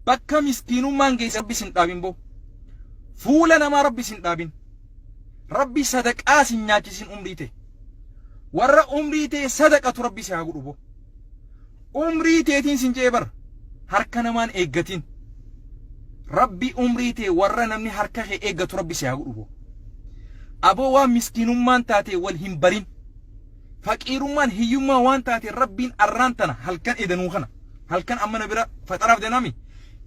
Bakka miskiinummaan geesse rabbi sin dhaabin boo. Fuula namaa rabbi sin dhaabin. Rabbi sadaqaa sin nyaachisin umrii tee. Warra umrii tee sadaqatu rabbi si haa godhu boo. Umrii teetiin sin je'ee bar harka namaan eeggatiin. Rabbi umrii tee warra namni harka kee eeggatu rabbi si haa godhu boo. Aboo waan miskiinummaan taatee wal hin barin. Faqiirummaan hiyyummaa waan taateen Rabbiin arraan tana halkan eedanuu kana halkan amma na bira faxaraaf deemnami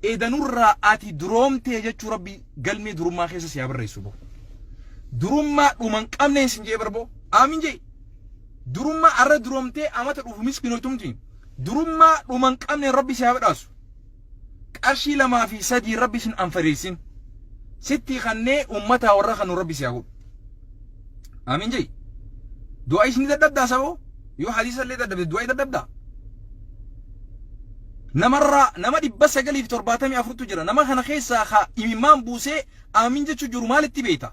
eedanurraa ati duroomtee jechuu Rabbii galmee durummaa keessa si haa barreessu boo. Durummaa dhuman qabneen sin jee barboo aamin jee. Durummaa arra duroomtee amata dhufu miskinotumti. Durummaa dhuman qabneen Rabbi si haa badhaasu. Qarshii lamaa fi sadii rabbi sin anfariirsin sittii kannee ummataa warra kanu rabbi siyaa godhu amiin jai du'aa isni dadhabdaa saboo yoo hadiisa illee dadhabde du'aa dadhabdaa namarraa nama dhibba sagalii fi torbaatamii afurtu jira nama kana keessaa ka imimmaan buusee amiin jechuu jiru maalitti beeyta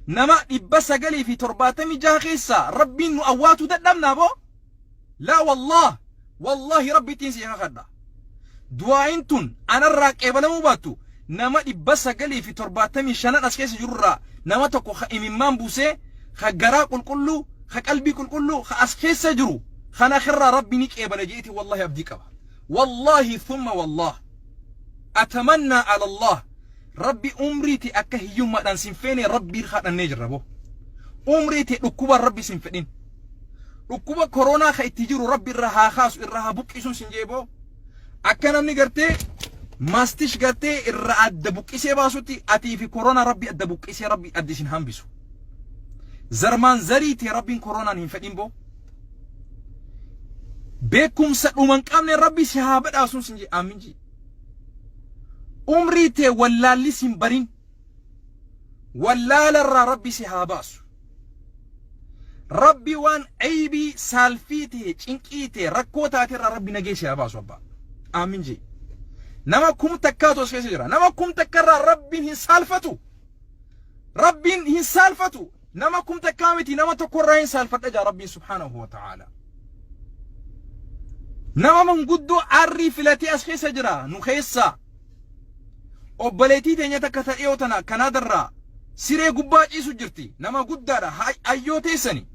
nama dhibba sagalii fi torbaatamii jaha keessaa rabbiin nu awwaatuu dadhabnaa boo Laa wallaah wallaahi rabbittiin sii kakadha du'aa'iin tun anarraa qeebalamuu baattu nama dhibba sagalii fi torbaatamii shanan as keessa jirurraa nama tokko ka imimmaan buusee ka garaa qulqulluu ka qalbii qulqulluu ka as keessa jiru kan akirraa rabbi ni qeebala jeeti wallaahi abdii qaba wallaahi thumma wallaah atamannaa alallah rabbi umriiti akka hiyyummaadhaan sin feene rabbii kadhannee jirra boo umriiti dhukkubaan rabbi sin fedhin Dhukkuba koronaa ka itti jiru rabbi irra haa kaasu irra haa buqqisuun sin jee boo. Akka namni gartee maastish gartee irra adda buqqisee baasutti atii fi koronaa rabbi adda buqqisee rabbi adda isin hambisu. Zarmaan zarii tee rabbiin koronaan hin fedhin boo. Beekumsa dhuman qabne rabbi si haa badhaasuun sin jee aamin jee. Umrii tee wallaalli sin barin. Wallaalarraa rabbi si haa baasu. Rabbi waan aybii saalfii ta'e cinqii ta'e rakkoo taate irraa rabbi nagee si haa baasu abbaa. Aamin jee. Nama kum takkaatu as keessa jira. Nama kum takka irraa rabbiin hin saalfatu. Rabbiin hin saalfatu. Nama kum takkaa miti nama tokko irraa hin saalfadha jaa rabbiin subhaanahu wa ta'aala. Nama manguddoo arrii filatee as keessa jira nu keessaa. Obboleettii teenya takka ta dhiyoo tana Kanaadarraa siree gubbaa ciisu jirti. Nama guddaadha. Hayyoo teessani.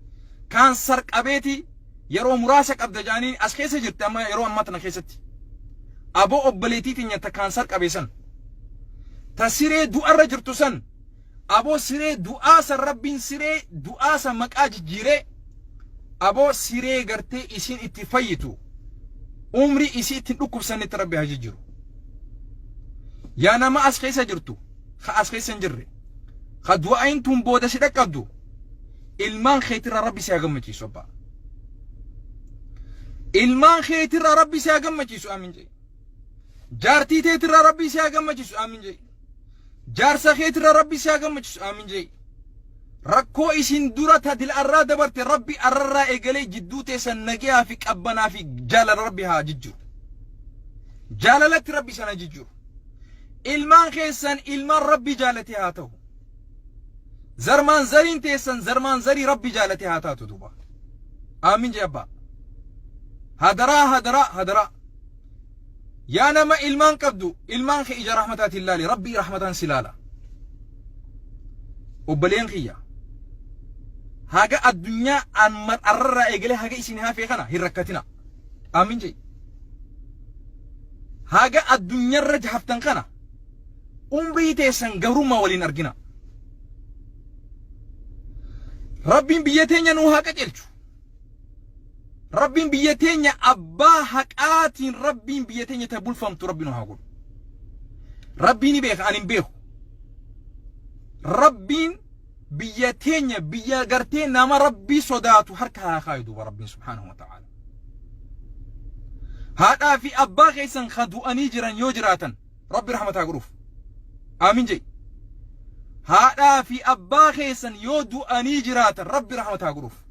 Kaansar qabeeti yeroo muraasa qabda jaanii as keessa jirti amma yeroo ammaa tana keessatti. Aboo obboleettii teenya ta kaansar qabeessan. Ta siree du'arra jirtu san Aboo siree du'aa san rabbiin siree du'aa san maqaa jijjiiree aboo siree gartee isiin itti fayyitu umrii isii ittiin dhukkubsannetti rabbi haa jijjiiru. Yaa nama as keessa jirtu ka as keessa hin jirre ka du'aayin tun booda si dhaqqabdu ilmaan keetirra rabbi si haa gammachiisu abbaa. Ilmaan keetirra rabbi si haa gammachiisu amiin jedhi. Jaartii teetirra rabbi si haa gammachiisu amiin jedhi. Jaarsa keetirra rabbi si haa gammachiisu aamin je'i. Rakkoo isin dura ta dil'arraa dabarte rabbi arrarraa eegalee jidduu teessan nagiyaa fi qabbanaa fi jaalala rabbi haa jijjiru. Jaalalatti rabbi isan haa jijjiru. Ilmaan keessan ilmaan rabbi jaalatee haa ta'u. Zarmaan zariin teessan zarmaan zarii rabbi jaalatee haa taatu duuba. Aamin je'i abbaa. Hadaraa hadaraa hadaraa. Yaa nama ilmaan qabdu ilmaan kee ija rahmataatiin laali rabbii rahmataan si laala. Obboleen kiyya haga addunyaa an mar'arraa eegalee haga isin hafee kana hin rakkatina. Aamin jee. Haga addunyarra haftan kana umrii teessan gabrummaa waliin argina. Rabbiin biyya teenya nuu haa qajeelchu. Rabbiin biyya teenya abbaa haqaatiin rabbiin biyya teenya ta bulfamtu rabbi nu haa godhu. Rabbii ni beeka ani hin beeku. Rabbiin biyya teenya biyya gartee nama rabbii sodaatu harka haa kaayu duuba rabbiin subhaanahu wa ta'ala. Haadhaa fi abbaa keessan ka du'anii jiran yoo jiraatan rabbi rahmata haa godhuuf. Aamin jedhi. Haadhaa fi abbaa keessan yoo du'anii jiraatan rabbi rahmata haa godhuuf.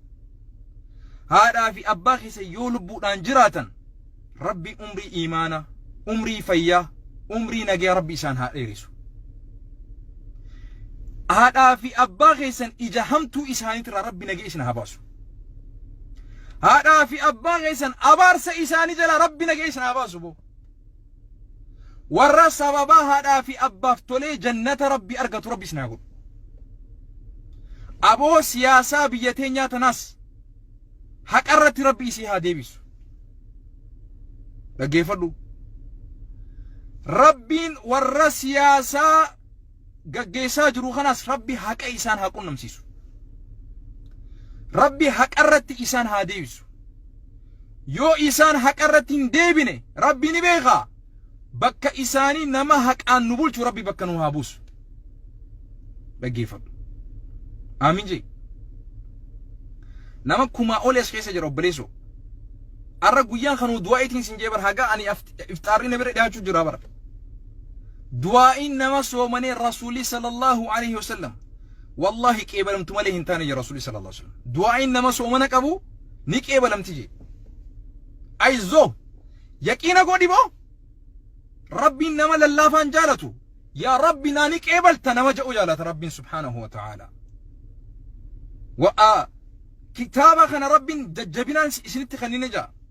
haadhaa fi abbaa keessan yoo lubbuudhaan jiraatan rabbi umrii iimaana umrii fayyaa umrii nagaya rabbi isaan haa dheerisu haadhaa fi abbaa keessan ija hamtuu isaaniitirraa rabbi nagaya isin haa baasu haadhaa fi abbaa keessan abaarsa isaanii jalaa rabbi nagaya isin haa baasu boo Warra sababaa haadhaa fi abbaaf tolee jannata rabbi argatu rabbi isin haa godhu. Aboo siyaasaa biyya teenyaa tanaas haqarratti rabbi isii haa deebisu. Dhaggeeffadhu. Rabbiin warra siyaasaa gaggeessaa jiru kanaas rabbi haqa isaan haa qunnamsiisu rabbi haqa irratti isaan haa deebisu yoo isaan haqa irratti hin deebine rabbi ni beekaa bakka isaanii nama haqaan nu bulchu rabbi bakka nu haa buusu dhaggeeffadhu aamin jee nama kumaa oli as keessa jira obboleessoo arra guyyaan kanuu du'aa'itiin sin jee bar haga ani ifxaarri na bira dhiyaachuu jira bara Du'aa'iin nama soomanee Rasuulli sallallahu alayhi wa sallam wallaahi qeebalamtu malee hin taane jedhe Rasuulli sallallahu alayhi wa sallam. Du'aa'iin nama soomana qabu ni qeebalamti jedhe. Ayizoo yaqiina godhi boo Rabbiin nama lallaafaan jaalatu yaa Rabbi naa ni qeebalta nama jedhu jaalata Rabbiin subhaanahu wa ta'aala. Wa'aa kitaaba kana Rabbiin jajjabinaan isinitti kennine jaa.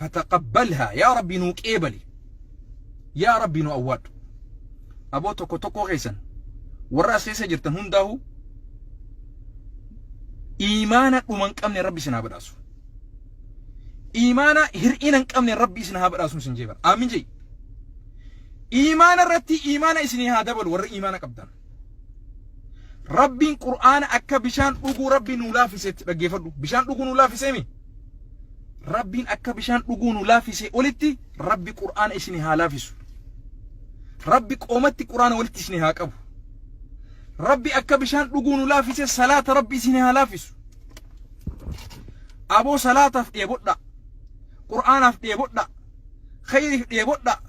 fataqabbalhaa yaa rabbii nuu qeebali yaa rabbii nu awwaadhu aboo tokko tokkoo keessan warra as keessa jirtan hundaahu iimaana dhuma hin qabne rabbi isin haa badhaasu iimaana hir'ina hin qabne rabbi isin haa badhaasu isin jeeban aamin jee iimaana irratti iimaana isinii haa dabalu warra iimaana qabdan Rabbiin Qur'aana akka bishaan dhuguu Rabbi nuu laafisetti dhaggeeffadhu. Bishaan dhuguu nuu laafiseemi. Rabbiin akka bishaan dhuguu nuu laafisee olitti Rabbi Qur'aana isin haa laafisu. Rabbi qoomatti Qur'aana walitti isin haa qabu. Rabbi akka bishaan dhuguu nuu laafisee salaata Rabbi isin haa laafisu. Aboo salaataaf dheebodhaa. Qur'aanaaf dheebodhaa. Khayriif dheebodhaa.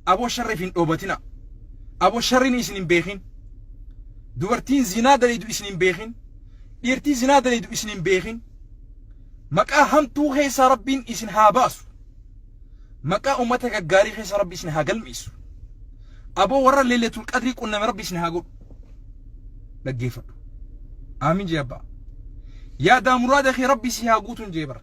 Aboo sharriif hin dhoobatinaa. Aboo sharrini isin hin beekin. Dubartiin zinaa dalaydu isin hin beekin. Dhiirtii zinaa dalaydu isin hin beekin. Maqaa hamtuu keessaa Rabbiin isin haa baasu. Maqaa ummata gaggaarii keessa Rabbi isin haa galmeessu. Aboo warra leeletul qadrii qunname Rabbi isin haa godhu. Dhaggeeffadhu. Aamin jee abbaa. Yaadaa muraada kee Rabbi si haa guutuun jee bara.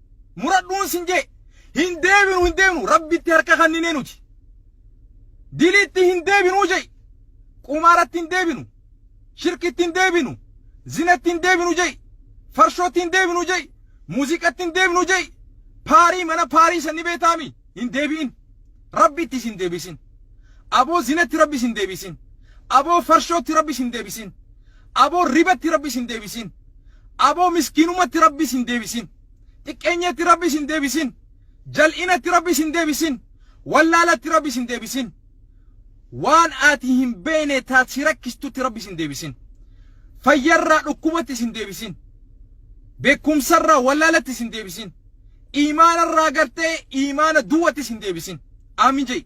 muradhuun sin jee hin deebinu hin deebinu rabbitti harka kanninee nuti diliitti hin deebinuu jee qumaaratti hin deebinu shirkitti hin deebinu zinatti hin deebinu jee farshootti hin deebinu jee muuziqatti hin deebinu jee paarii mana paarii sanni beetaami hin deebi'in rabbitti isin deebisin aboo zinatti rabbi isin deebisin aboo farshootti rabbi isin deebisin aboo ribatti rabbi isin deebisin aboo miskiinumatti rabbi isin deebisin xiqqeenyatti rabbi isin deebisin jal'inatti rabbi isin deebisin wallaalatti rabbi isin deebisin waan ati hin beekne taat si rakkistutti rabbi isin deebisin fayyarraa dhukkubatti isin deebisin beekumsarraa wallaalatti isin deebisin iimaana irraa gartee iimaana duwwattis hin deebisin aamin jei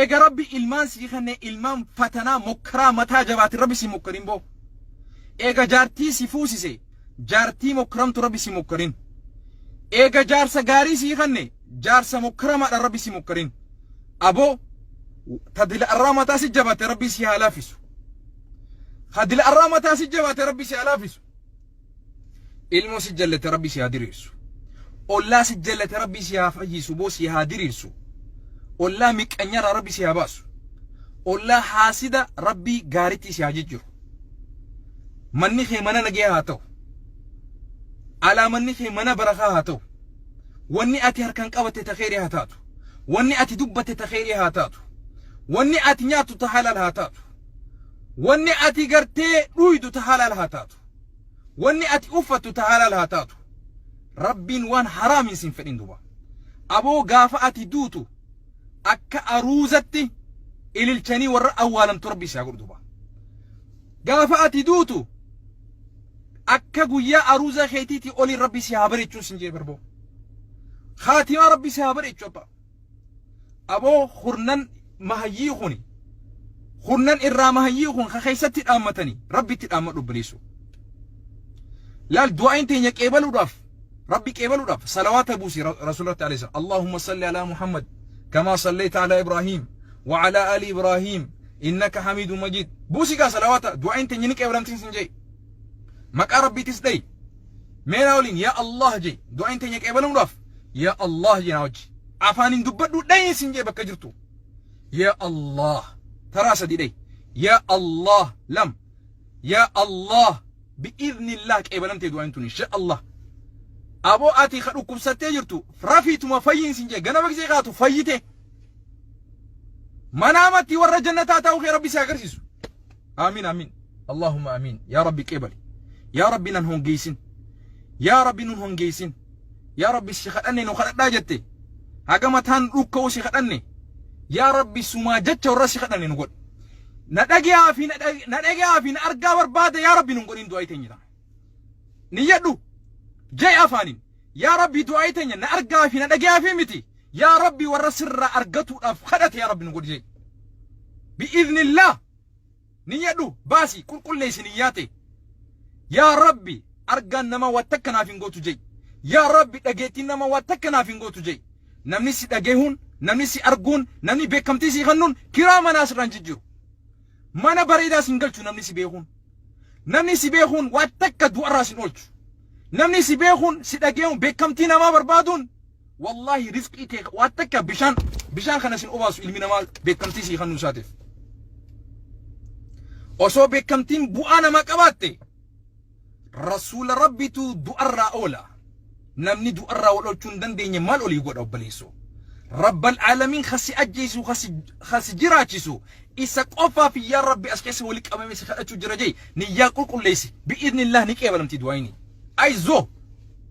eega rabbi ilmaan sii kenne ilmaan fatanaa mokkaraa mataa jabaatin rabbi sii mokkarin boo eega jaartii si fuusise jaartii mokkaramtu rabbi sii mokkarin eega jaarsa gaarii sii kenne jaarsa mokkaramaadha rabbi sii mokkarin aboo tadila irraa mataa si jabaate rabbi sii haa laafisu tadila irraa mataa si jabaate rabbi sii haa laafisu ilmoo si jallate rabbii si haa diriirsu ollaa si jallate rabbii si haa fayyisu boo si haa diriirsu ollaa miqqanyarraa rabbii si haa baasu ollaa haasida rabbii gaaritti si haa jijjiru manni kee mana nagee haa ta'u alaa manni kee mana barakaa haa ta'u wanni ati harkaan qabatte ta kheyrii haa taatu wanni ati dubbatte ta kheyrii haa taatu wanni ati nyaattu ta halal haa taatu Wanni ati gartee dhuuydu ta halaal haa taatu. Wanni ati uffattu ta halaal haa taatu. Rabbiin waan haraamiin siin fedhin duba. Aboo gaafa ati duutu akka aruuzatti ililchanii warra awwaalamtu rabbii si haa godhu duba. Gaafa ati duutu akka guyyaa aruuza keetiitii oliin rabbii si haa bareechuun siin jee barboo. Khaatimaa rabbii si haa bareechu abba. Aboo kurnan mahayyii kuni kurnan irraa mahayyii kun ka keessatti dhaammatanii rabbitti dhaammadhu obboleessoo. Laal du'aayin teenya qeebaluudhaaf rabbi qeebaluudhaaf salawaata buusi rasuulatti alayhi salaam. Allahumma salli alaa Muhammad kamaa sallayta alaa Ibraahiim wa alaa ali Ibraahiim innaka hamiidu majiid. Buusi gaa salawaata du'aayin teenya ni qeebalamtiin sin jee. Maqaa rabbiitis dhayi. Meena waliin yaa Allah jee du'aayin teenya qeebaluudhaaf yaa Allah jenaa wajji afaan hin dubbadhu dhayin sin jee bakka jirtu yaa Allah taraa sadii dhayi yaa Allah lam yaa Allah bi'iznillah qeebalamtee du'aan tun insha Allah aboo ati ka dhukkubsattee jirtu rafiituma fayyiin sin jee gana baqsee kaatu fayyite manaamatti warra jannataa ta'uu kee rabbi si agarsiisu Aamiin aamiin. Allaahumma aamiin. Yaa Rabbi qeebali. Yaa Rabbi nan hongeessin. Yaa Rabbi nun hongeessin. Yaa Rabbi si kadhanne nu kadhadhaa jette. Haga mataan dhukka'u si kadhanne. Yaa Rabbi sumaa jecha warra si kadhanne nu godhi. Na dhage'aa fi na dhag- na dhage'aa fi na argaa barbaada yaa Rabbi nun godhin du'aa teenya tana. Niyyadhu. Jai afaanin. Yaa Rabbi du'aa teenya na argaa fi na dhage'aa fi miti. Yaa Rabbi warra sirraa argatuudhaaf kadhate yaa Rabbi nu godhi jai. بإذن الله Niyyadhu baasi qulqulleessi niyyaa tee. Yaa Rabbi argaan namaa waa takka naaf hin gootu je'i. Yaa Rabbi dhageettiin namaa waa takka naaf hin gootu je'i. Namni si dhagahuun, namni si arguun, namni beekamtii sii kennuun kiraa manaa sirraa hin jijjiiru. Mana bareedaa sin galchu namni si beekuun. Namni si beekuun waa takka du'arraa sin oolchu. Namni si beekuun, si dhagahuun, beekamtii namaa barbaaduun Wallaahi rizqii kee waan takka bishaan bishaan kana sin obaasu ilmi namaa beekamtii sii kennuu isaatiif. Osoo beekamtiin bu'aa namaa qabaatte rasuula rabbitu du'arraa oola. Namni du'arraa wal oolchuu hin dandeenye maal olii godha obboleessoo. Rabbal aalamiin kasi ajjeesu kasi kasi jiraachisu isa qofaaf yaa rabbi as keessa wali qabame si kadhachuu jira jee niyyaa qulqulleessi bi'iidnillah ni qeebalamti du'aayini. Ayizoo!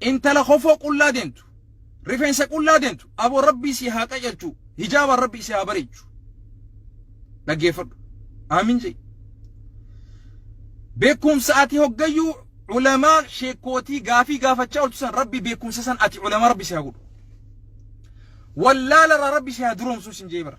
intala kofoo qullaa deemtu rifeensa qullaa deemtu aboo rabbii si haa qajeelchu hijaabaan rabbii si haa bareechu dhaggeeffadhu aamin jee beekumsa ati hoggayyuu ulamaa sheekkootii gaafii gaafachaa oltu san rabbi beekumsa san ati ulamaa rabbi si haa godhu wallaalarraa rabbi si haa duroomsuu sin jee bara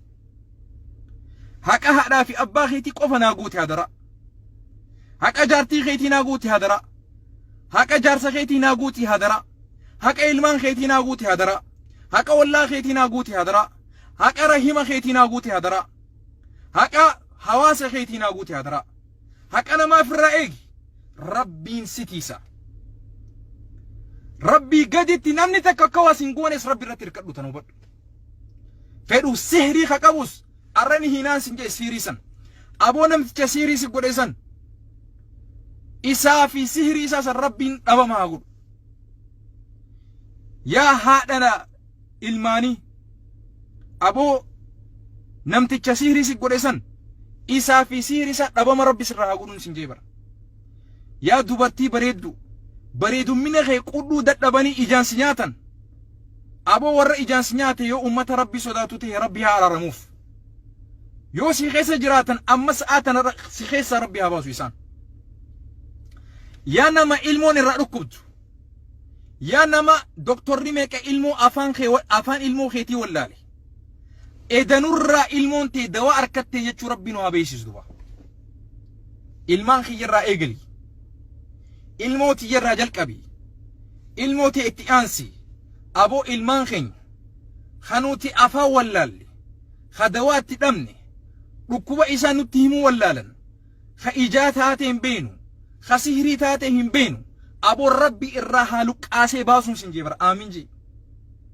Haqa haadhaa fi abbaa keetii qofa naa guuti hadaraa. Haqa jaartii keetii naa guuti hadaraa. Haqa jaarsa keetii naa guuti hadaraa. Haqa ilmaan keetii naa guuti hadaraa. Haqa ollaa keetii naa guuti hadaraa. Haqa rahima keetii naa guuti hadaraa. Haqa hawaasa keetii naa guuti hadaraa. Haqa namaa firraa eegi. Rabbiin sitiisa. Rabbii gaditti namni takka akka waas hin goones rabbi irratti hirkadhu tan hubadhu. fedhu sihrii ka qabus arra ni hiinaan sin jee siirii san aboo namticha siirii si godhe san isaa fi sihrii isaa san rabbiin dhabama haa godhu yaa haadhana ilmaanii aboo namticha sihrii si godhe san isaa fi sihrii isaa dhabama rabbi sirraa haa godhuun sin jee bara yaa dubartii bareeddu bareedummina kee qudhuu dadhabanii ijaan si nyaatan Aboo warra ijaan si nyaate yoo ummata Rabbii sodaatu tahe Rabbi haa araaramuuf. Yoo si keessa jiraatan amma sa'aa tana ra- si keessaa Rabbi haa baasu isaan. Yaa nama ilmoon irraa dhukkubdu. Yaa nama doktorri meeqa ilmoo afaan kee wa- afaan ilmoo keetii wallaale. Edanurraa ilmoon tee dawaa arkattee jechuu Rabbi nu haa beeksisu duba. Ilmaan kiyyarraa eegali. Ilmoo tiyyarraa jalqabi. Ilmoo tee itti aansi. Aboo ilmaan keenya. Ka nuti afaan wallaalle. Ka dawaatti dhabne. Dhukkuba isaa nutti himuu wallaalan. Ka ijaa taatee hin beenu. Ka sihrii taatee hin beenu. Aboo rabbi irraa haa luqqaasee baasuun sin jee bara. Aamiin jee.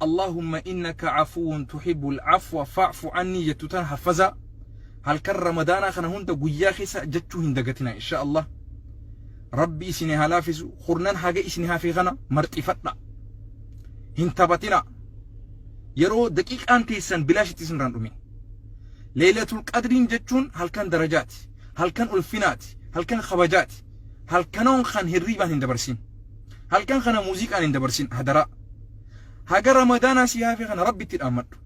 Allahumma innaka afuwun tuhibbul afwa fa'fu anni jettu tana haffazaa halkan ramadaanaa kana hunda guyyaa keessa jechuu hin dagatinaa insha Allah rabbi isini haa laafisu kurnan haga isini hafe kana marxifadha hin taphatina yeroo daqiiqaan teessan bilaashitti isin irraan dhumin leeylatul qadriin jechuun halkan darajaati halkan ulfinaati halkan kabajaati halkanoon kan hirriibaan hin dabarsin halkan kana muuziqaan hin dabarsin hadaraa haga ramadaanaa sii hafe kana rabbitti dhaammadhu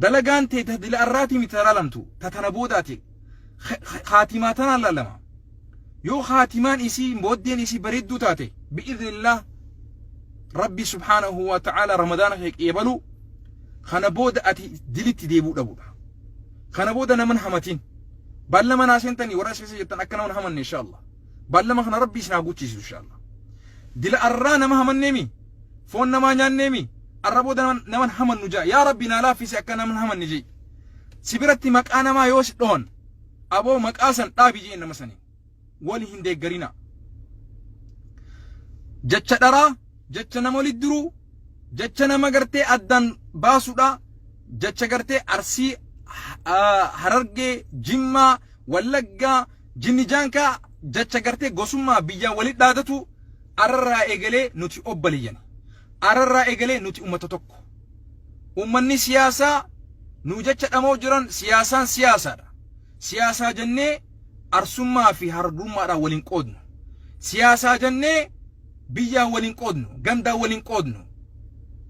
dalagaan tee ta dila arraatii miti laalamtu ta tana boodaati khaatimaa tanaan laalama yoo khaatimaan isii booddeen isii bareedduu taate bi'iznillah rabbi subhaanahu wa ta'ala ramadaana kee qeebaluu kana booda ati dilitti deebuu dhabudha kana booda naman hamatiin balla manaa seentanii warra seesa jettan akka naman hamanne insha Allah Baallama kana rabbi isin haa guuchiisu inshaalla. Dila arraa nama hamanneemi? Foon namaa nyaanneemi? Arra booda naman, naman hamannu ja'a. Yaa rabbi naa laaffisi akka naman hamanne je'i. Si biratti maqaa namaa yoo si dhohan aboo maqaa san dhaabi je'in nama saniin. Wali hin deeggarinaa. Jecha dharaa, jecha nama walitti diruu, jecha nama gartee addaan baasudha, jecha gartee arsii, ah, harargee, jimmaa, wallaggaa, Jinni jaankaa jacha gartee gosummaa biyyaa wali dhaadatu ararraa egalee nuti obbaleyyani. Ararraa egalee nuti ummata tokko. Ummanni siyaasaa nuu jacha dhama'u jiran siyaasaan siyaasaadha. Siyaasaa jannee arsummaa fi harargummaadhaan waliin qoodnu. Siyaasaa jannee biyyaa waliin qoodnu, gandaa waliin qoodnu,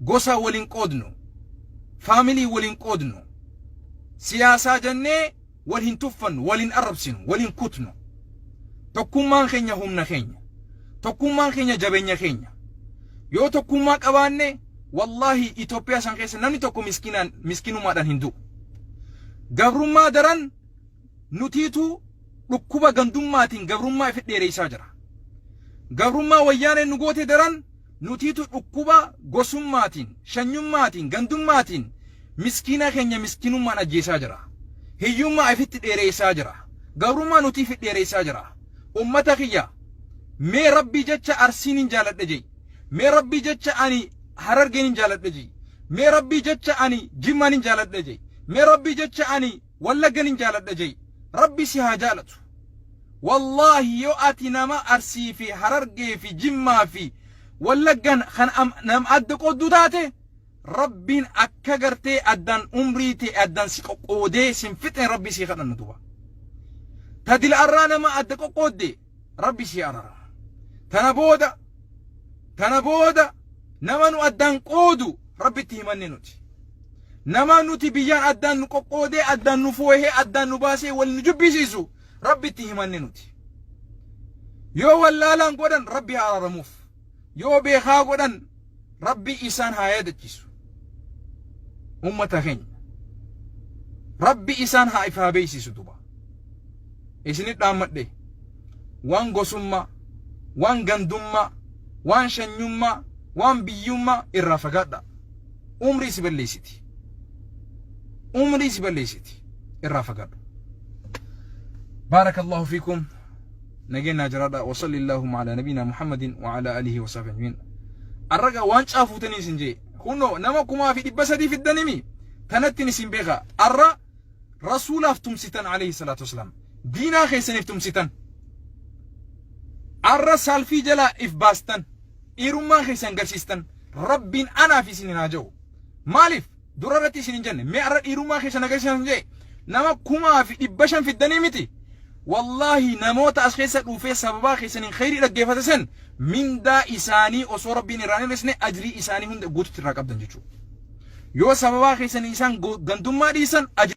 gosaa waliin qoodnu, faamilii waliin qoodnu. Siyaasaa jannee wal hin tuffannu, wal hin arrabsinu, wal hin kutnu. Tokkummaan keenya humna keenya. Tokkummaan keenya jabeenya keenya. Yoo tokkummaa qabaanne wallaahi Itoophiyaa san keessa namni tokko miskinaan miskinumaadhaan hin du'u. Gabrummaa daran nutiitu dhukkuba gandummaatiin gabrummaa ifi dheereessaa jira. Gabrummaa wayyaaneen nu goote daran Nutiitu dhukkuba gosummaatiin, shanyummaatiin, gandummaatiin miskiina keenya miskinummaan ajjeesaa jira. Hiyyummaa ifitti dheereessaa jira. Gabrummaa nuti ifi dheereessaa jira. Ummata kiyya mee Rabbii jecha Arsiinin jaaladha je'i. Mee Rabbii jecha ani Harargeenin jaaladha je'i. Mee Rabbii jecha ani Jimmaanin jaaladha je'i. Mee Rabbii jecha ani wallagga nin jaaladha jai rabbi si haa jaalatu wallaahi yoo ati nama arsii fi harargee fi jimmaa fi wallaggan kan am- nam adda qoodduu taate rabbiin akka gartee addaan umrii tee addaan si qoqqoodee sin fixne rabbii sii kadhanna duba tadila arraa nama adda qoqqoodde Rabbi sii arara. Tana booda tana booda nama nu addaan qoodu rabbitti himanne nuti. Nama nuti biyyaan addaan nu qoqqoodee addaan nu foohee addaan nu baasee wal nu jibbisiisu rabbitti himanne nuti. Yoo wallaalaan godhan rabbi haa araramuuf. Yoo beekaa godhan Rabbii isaan haa yaadachiisu. Ummata keenya. Rabbi isaan haa ifaa beeksisu duba. Isinit dhaammadhe waan gosummaa, waan gandummaa, waan shanyummaa, waan biyyummaa irraa fagaadhaa. Umrii si balleessiti. Umrii si balleessiti. Irraa fagaadhu. Baarakallahu fiikum. Nageen naa jiraadhaa wa salli Allaahumma alaa nabiinaa Muhammadin wa alaa alihi wa sahbihi ajmiin. Arraga waancaa fuutanii isin jee kunno nama kumaa fi dhibba sadii fiddanimi tanattin isin beeka arra rasuulaaf tumsitan alayhi salaatu wasalaam diinaa keessaniif tumsitan arra saalfii jalaa if baastan dhiirummaa keessan garsiistan rabbiin anaaf isin hin haa ja'u maaliif Dura irratti isin hin jenne. Mee arra dhiirummaa keessan agarsiisaa isin jee. Nama kumaa fi dhibba shan fiddanii miti. Wallaahi namoota as keessa dhuufee sababaa keessaniin khayrii dhaggeeffate san mindaa isaanii osoo rabbiin irraa hin hir'isne ajrii isaanii hunda guututti irraa qabdan jechuudha. Yoo sababaa keessaniin isaan go- gandummaa dhiisan ajrii